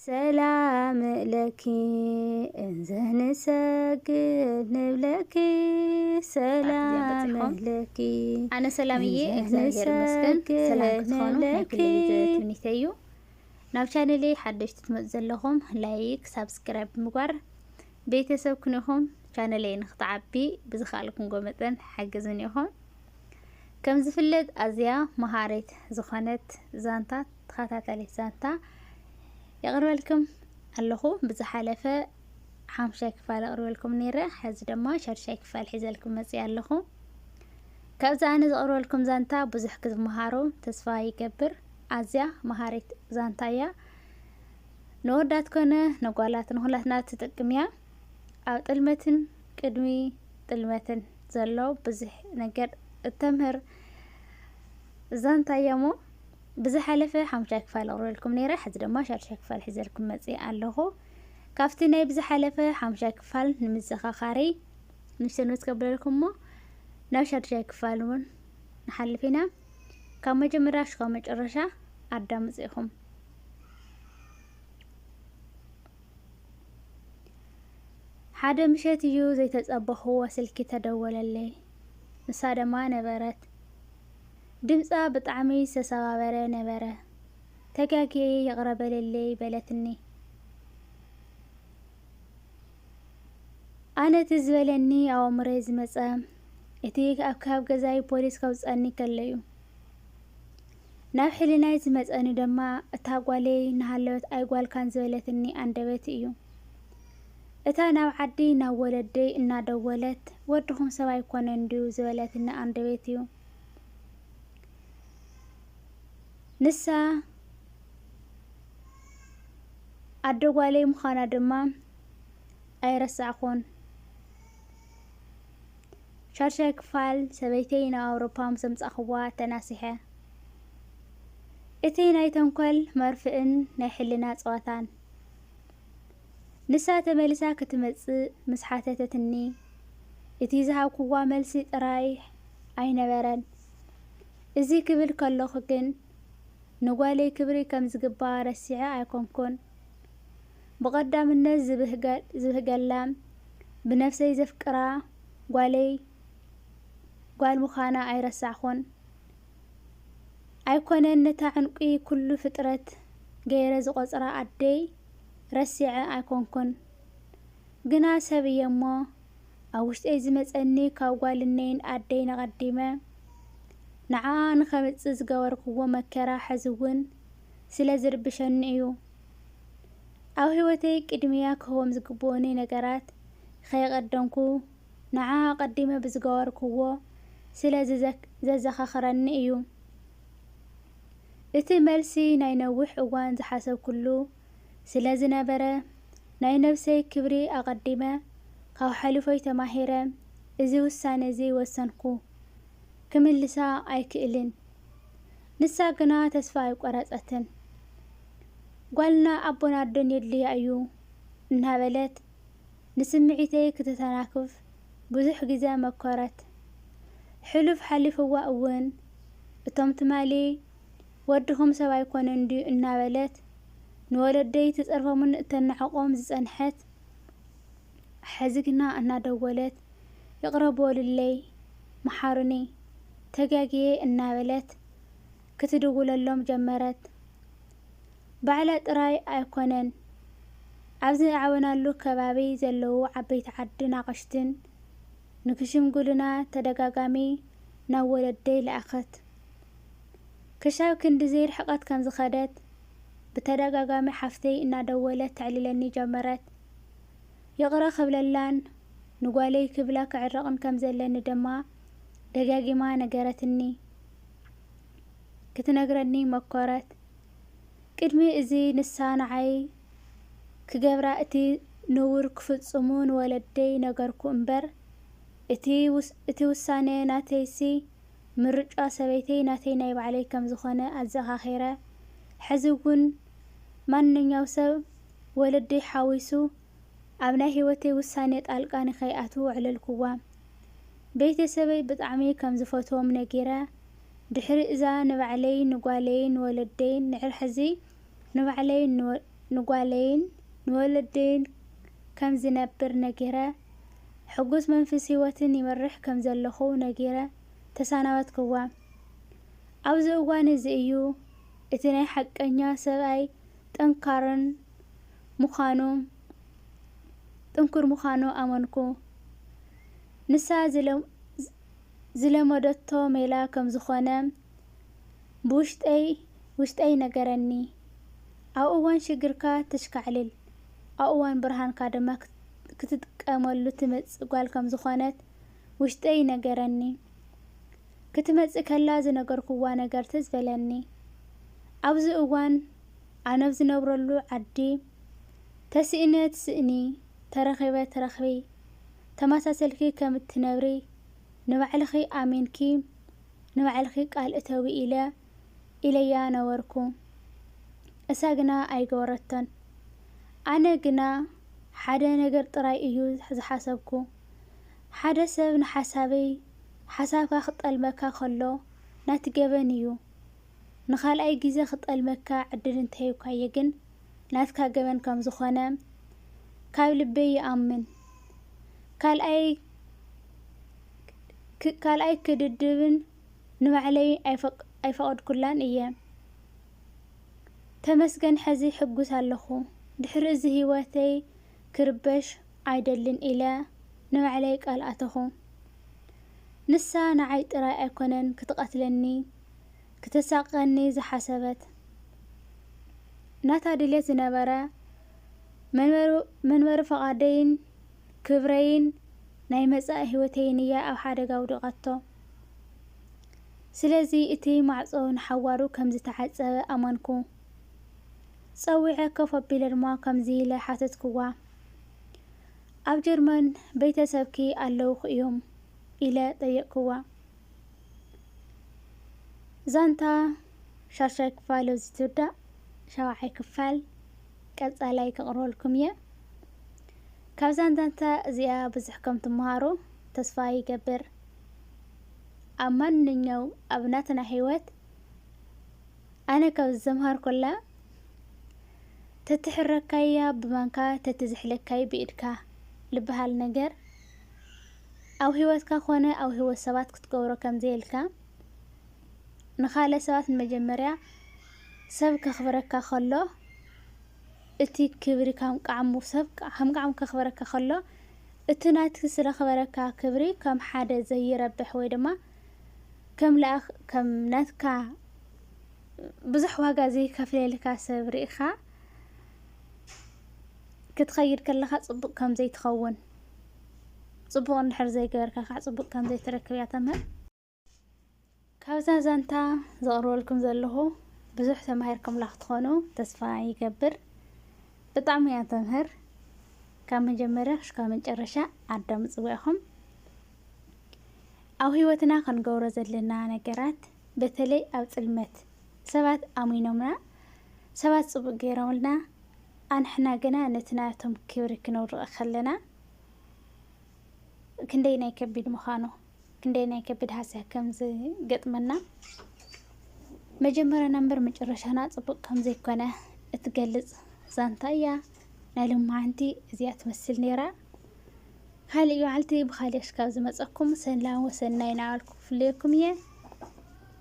ሰላም ለኪ እንዘ ንሰግድ ንብለኪ ሰላም ለኪ ኣነ ሰላምዬ እግዚኣብሔር ይመስገን ሰላም ክትኾኑ ናይ ኩለይ ዘትምኒተ እዩ ናብ ቻነለይ ሓደሽቲ ትመፁ ዘለኹም ላይክ ሳብስክራይብ ምግባር ቤተሰብ ክንኹም ቻነለይ ንክትዓቢ ብዝኸኣልኩምጎ መጠን ሓግዝን ኢኹም ከም ዝፍለጥ ኣዝያ መሃሪት ዝኾነት ዛንታት ተኸታታሊት ዛንታ የቕርበልኩም ኣለኹ። ብዝሓለፈ ሓሙሻይ ክፋል ኣቕርበልኩም ነይረ፣ ሕዚ ድማ ሻድሻይ ክፋል ሒዘልኩም መፅእ ኣለኹ። ካብዚ ኣነ ዘቕርበልኩም ዛንታ ብዙሕ ክትመሃሩ ተስፋ ይገብር። ኣዝያ መሃሪት ዛንታ እያ። ንወዳት ኮነ ንጓላት ንኹላትና ትጠቅም እያ። ኣብ ጥልመትን ቅድሚ ጥልመትን ዘሎ ብዙሕ ነገር እተምህር ዛንታ እያ እሞ ብዝሓለፈ ሓሙሻይ ክፋል ኣቕሪበልኩም ነይረ፣ ሕዚ ድማ ሻዱሻይ ክፋል ሒዘልኩም መጺኣ ኣለኹ። ካብቲ ናይ ብዝሓለፈ ሓሙሻይ ክፋል ንምዘኻኻሪ ንሰንበት ከብለልኩም እሞ ናብ ሻዱሻይ ክፋል እውን ንሓልፍ ኢና። ካብ መጀመርያ ሽካብ መጨረሻ ኣዳምጹ ኢኹም። ሓደ ምሸት እዩ ዘይተጸበኽዎ ስልኪ ተደወለለይ። ንሳ ደማ ነበረት። ድምጻ ብጣዕሚ ዝተሰባበረ ነበረ ተጋጊየ ይቅረ በለለይ በለትኒ ኣነ እቲ ዝበለኒ ኣብ ኣእምሮይ ዝመጸ እቲ ኣብ ካብ ገዛይ ፖሊስ ከውጸኒ ከለዩ ናብ ሕልናይ ዝመጸኒ ድማ እታ ጓለይ እናሃለወት ኣይጓልካን ዝበለትኒ ኣንደበት እዩ እታ ናብ ዓዲ ናብ ወለደይ እናደወለት ወድኹም ሰብ ኣይኮነን ድዩ ዝበለትኒ ኣንደበት እዩ። ንሳ ኣደ ጓለይ ምዃና ድማ ኣይረሳዕኹን። ሻድሻይ ክፋል ሰበይተይ ናብ ኣውሮፓ ምስ ኣምጻእኽዋ ተናሲሐ። እቲ ናይ ተንኮል መርፍእን ናይ ሕልና ጸወታን ንሳ ተመሊሳ ክትመጽእ ምስ ሓተተትኒ፣ እቲ ዝሃብኩዋ መልሲ ጥራይ ኣይነበረን። እዚ ክብል ከለኹ ግን፣ ንጓለይ ክብሪ ከም ዝግብኣ ረሲዐ ኣይኮንኩን። ብቐዳምነት ዝብህገላን ብነፍሰይ ዘፍቅራ ጓለይ ጓል ምዃና ኣይረሳዕኩን። ኣይኮነን ነታ ዕንቊ ኩሉ ፍጥረት ገይረ ዝቖጽራ ኣደይ፣ ረሲዐ ኣይኮንኩን ግና ሰብ እየ እሞ ኣብ ውሽጠይ ዝመጸኒ ካብ ጓልነይን ኣደይን ኣቐዲመ ንዓኣ ንኸምጽእ ዝገበርክዎ መከራ ሕዚ እውን ስለ ዝርብሸኒ እዩ ኣብ ህይወተይ ቅድሚያ ክህቦም ዝግብኡኒ ነገራት ከየቐደምኩ ንዓኣ ኣቐዲመ ብዝገበርክዎ ስለ ዘዘኻኽረኒ እዩ። እቲ መልሲ ናይ ነዊሕ እዋን ዝሓሰብኩሉ ስለ ዝነበረ፣ ናይ ነብሰይ ክብሪ ኣቐዲመ፣ ካብ ሓሉፎይ ተማሂረ እዚ ውሳነ'ዚ ወሰንኩ። ክምልሳ ኣይክእልን። ንሳ ግና ተስፋ ኣይቆረጸትን። ጓልና ኣቦ ናርዶን የድልያ እዩ እናበለት፣ ንስምዒተይ ክትተናክፍ ብዙሕ ግዜ መኮረት። ሕሉፍ ሓሊፍዋ እውን እቶም ትማሊ ወድኹም ሰብ ኣይኮነን ድዩ እናበለት ንወለደይ ትጸርፎምን እተናዕቆም ዝጸንሐት ሕዚ ግና እናደወለት ይቕረ በሉለይ፣ መሓሩኒ፣ ተጋግየ እናበለት ክትድውለሎም ጀመረት። ባዕላ ጥራይ ኣይኮነን ኣብ ዝኣዕበናሉ ከባቢ ዘለዉ ዓበይቲ ዓድን ኣቕሽትን ንክሽምግሉና ተደጋጋሚ ናብ ወለደይ ለኣኸት። ክሻብ ክንድዚ ርሕቐት ከም ዝኸደት ብተደጋጋሚ ሓፍተይ እናደወለት ተዕልለኒ ጀመረት። ይቕረ ክብለላን ንጓለይ ክብላ ክዕረቕን ከም ዘለኒ ድማ ደጋጊማ ነገረትኒ። ክትነግረኒ መኰረት። ቅድሚ እዚ ንሳ ንዓይ ክገብራ እቲ ንቡር ክፍጽሙ ንወለደይ ነገርኩ እምበር፣ እቲ ውሳነ ናተይሲ ምርጫ ሰበይተይ ናተይ ናይ ባዕለይ ከም ዝዀነ ኣዘኻኺረ። ሕዚ እውን ማንኛው ሰብ ወለደይ ሓዊሱ ኣብ ናይ ህይወተይ ውሳነ ጣልቃ ንከይኣትው ኣዕለልኩዋ። ቤተሰበይ ብጣዕሚ ከም ዝፈትዎም ነጊረ ድሕሪ እዛ ንባዕለይ ንጓለይን ንወለደይን ንሕር ሕዚ ንባዕለይን ንጓለይን ንወለደይን ከም ዝነብር ነጊረ ሕጉስ መንፍስ ህይወትን ይመርሕ ከም ዘለኹ ነጊረ ተሳናበትክዋ ኣብዚ እዋን እዚ እዩ እቲ ናይ ሓቀኛ ሰብኣይ ጠንካርን ምኻኑ ጥንኩር ምዃኑ ኣመንኩ። ንሳ ዝለመደቶ ሜላ ከም ዝዀነ ብውሽጠይ ውሽጠይ ይነገረኒ። ኣብ እዋን ሽግርካ ተሽካዕልል፣ ኣብ እዋን ብርሃንካ ድማ ክትጥቀመሉ ትመጽእ ጓል ከም ዝዀነት ውሽጠይ ይነገረኒ። ክትመጽእ ከላ ዝነገርኩዋ ነገር ትዝ በለኒ። ኣብዚ እዋን ኣነብ ዝነብረሉ ዓዲ፣ ተስኢነ ትስእኒ ተረኺበ ትረኽቢ ተመሳሲልኪ ከም እትነብሪ ንባዕልኺ ኣሚንኪ ንባዕልኺ ቃል እተዊ ኢለ ኢለያ ነበርኩ እሳ ግና ኣይገበረቶን ኣነ ግና ሓደ ነገር ጥራይ እዩ ዝሓሰብኩ ሓደ ሰብ ንሓሳብይ ሓሳብካ ክጠልመካ ከሎ ናቲ ገበን እዩ ንካልኣይ ግዜ ክጠልመካ ዕድል እንተሂብካዮ ግን ናትካ ገበን ከም ዝኾነ ካብ ልበይ ይኣምን። ካልኣይ ካልኣይ ክድድብን ንባዕለይ ኣይፈቐድኩላን እየ። ተመስገን ሕዚ ሕጉስ ኣለኹ። ድሕሪ እዚ ህይወተይ ክርበሽ ኣይደልን ኢለ ንባዕለይ ቃል ኣተኹ። ንሳ ንዓይ ጥራይ ኣይኮነን ክትቐትለኒ ክተሳቕቀኒ ዝሓሰበት ናታ ድሌት ዝነበረ መንበሪ ፍቓደይን ክብረይን ናይ መጻኢ ህይወተይን እያ ኣብ ሓደጋ ኣውዲቓቶ። ስለዚ እቲ ማዕጾ ንሓዋሩ ከም ዝተዓጸወ ኣመንኩ። ጸዊዐ ኮፍ ኣቢለ ድማ ከምዚ ኢለ ሓተትክዋ፣ ኣብ ጀርመን ቤተ ሰብኪ ኣለዉኹ እዮም? ኢለ ጠየቕክዋ። ዛንታ ሻሻይ ክፋል ኣብዚ ትውዳእ ሻውዓይ ክፋል ቀጻላይ ከቕርበልኩም እየ ካብዛን ዛንታ እዚኣ ብዙሕ ከም ትመሃሩ ተስፋ ይገብር ኣብ ማንኛው ኣብ ናትና ህይወት ኣነ ካብ ዘምሃርኩላ ተትሕረካያ ብማንካ ተትዝሕለካይ ብኢድካ ልበሃል ነገር ኣብ ሂወትካ ኮነ ኣብ ሂወት ሰባት ክትገብሮ ከም ዘየልካ ንካልእ ሰባት ንመጀመርያ ሰብ ከክብረካ ከሎ እቲ ክብሪ ከም ቃዕሙ ሰብ ከም ቃዕሙ ከክብረካ ከሎ እቲ ናቲ ስለክበረካ ክብሪ ከም ሓደ ዘይረብሕ ወይ ድማ ከም ላኣክ ከም ናትካ ብዙሕ ዋጋ ዘይከፍለልካ ሰብ ሪኢካ ክትከይድ ከለካ ጽቡቅ ከም ዘይትከውን። ጽቡቕ እንድሕር ዘይገበርካ ካዕ ጽቡቕ ከም ዘይትረክብ እያ ተምህር። ካብዛ ዛንታ ዘቕርበልኩም ዘለኹ ብዙሕ ተማሂርኩምላ ክትኾኑ ተስፋ ይገብር። ብጣዕሚ እያ ተምህር። ካብ መጀመርያ ክሽካ መጨረሻ ኣዳምጽዋ ኢኹም። ኣብ ህይወትና ክንገብሮ ዘለና ነገራት በተለይ ኣብ ጽልመት ሰባት ኣሚኖምና ሰባት ጽቡቅ ገይሮምልና ኣንሕና ግና ነቲ ናቶም ክብሪ ክነውርቐ ከለና ክንደይናይ ከቢድ ምዃኑ ክንደይናይ ከቢድ ሃስያ ከም ዝገጥመና መጀመርያና እምበር መጨረሻና ጽቡቕ ከም ዘይኮነ እትገልጽ ዛንታ እያ። ናይ ልማዓንቲ እዚኣ ትመስል ነይራ። ካልእ በዓልቲ ብኻልእ ሽካብ ዝመጸኩም ሰላም ወሰናይ ናበልኩ ክፍለየኩም እየ።